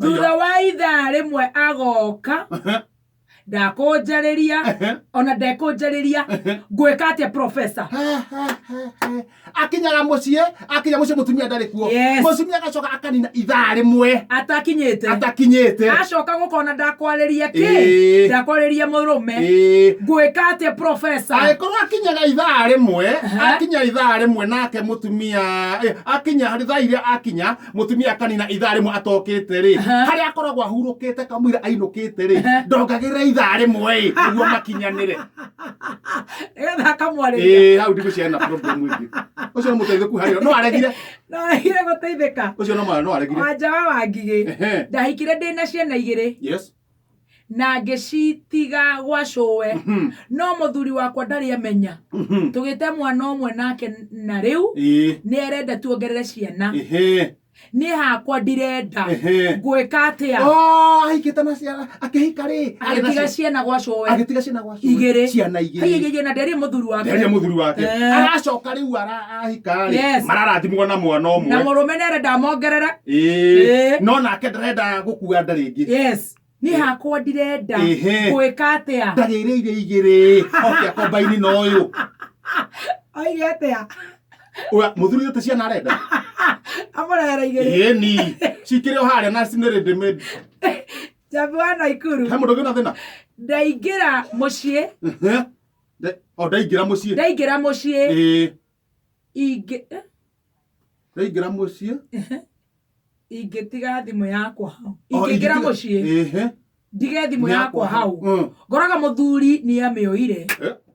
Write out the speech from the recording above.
thutha wa ithaa rĩmwe agoka ndakũnjarĩria ona ndekũnjarĩria ngwĩka atĩa professor akinyaga muciĩ akinya muciĩ mutumia ndarĩ kuo Yes. mutumia agacoka akanina ithaa rĩmwe atakinyĩte atakinyĩte acoka gũkona ndakwarĩria kĩ Ĩĩ. ndakwarĩria mũrũme Ĩĩ. ngwĩka atĩa professor agĩkorwo akinyaga ithaa rĩmwe Aha. akinya ithaa rĩmwe nake mũtumia eh, akinya thaa iria akinya mutumia akanina ithaa rimwe atokite ri hari akoragwo ahurukite kamwira ainukite ri ndongagirira ithaa rimwe ri niguo makinyanire Nĩgetha akamwarĩria. eh hau ndigu ciana problem wingi ucio ni muteithiku hari no aregire Ndoragire gũteithĩka. ucio no mwana no aregire Wanja wa Wangigĩ. Ehe. Ndahikire ndĩ na ciana igĩrĩ. yes na ngĩcitiga gwacũwe Mhm. no mũthuri wakwa ndarĩ amenya Mhm. tũgĩte mwana ũmwe nake na rĩu Ĩĩ. nĩ arenda tuongerere ciana Ĩhĩ. niĩ hakwa ndirenda Ĩhĩ. ngwĩka atĩa Oh, ahikĩte na ciana akĩhika rĩ agĩtiga ciana gwacũwe agĩtiga ciana igĩrĩ ciana igĩrĩ Haiyaiyaiya, na nderia mũthuri wake nderia mũthuri wake Eh. aracoka rĩu ara- ahika-rĩ Yes. mararathimwo na mwana na ũmwe mũrũme nere ndamongerere Ĩĩ. Eh. no nake ndarenda gũkua nda rĩngĩ yes niĩ hakwa ndirenda Ehe. gwĩka atĩa ndarĩrĩire igĩrĩ oke akombaini na ũyũ oige atĩa Ũya, mũthuri ũte ciana arenda amũrehera igĩrĩ ĩni cikĩrĩ o harĩa na cinĩrĩ ndĩmĩ Njambi wa Naikuru. He mũndũ ũngĩ na thĩna? Ndaingĩra mũciĩ. O ndaingĩra mũciĩ. Ndaingĩra mũciĩ. Ĩĩ. Ingĩ. Eh? Ndaingĩra mũciĩ. Ingĩtiga thimũ yakwa hau. Ingĩingĩra mũciĩ. Ĩĩ. Ndige thimũ yakwa hau. Mm. Ngoraga mũthuri nĩ amĩoire. Eh?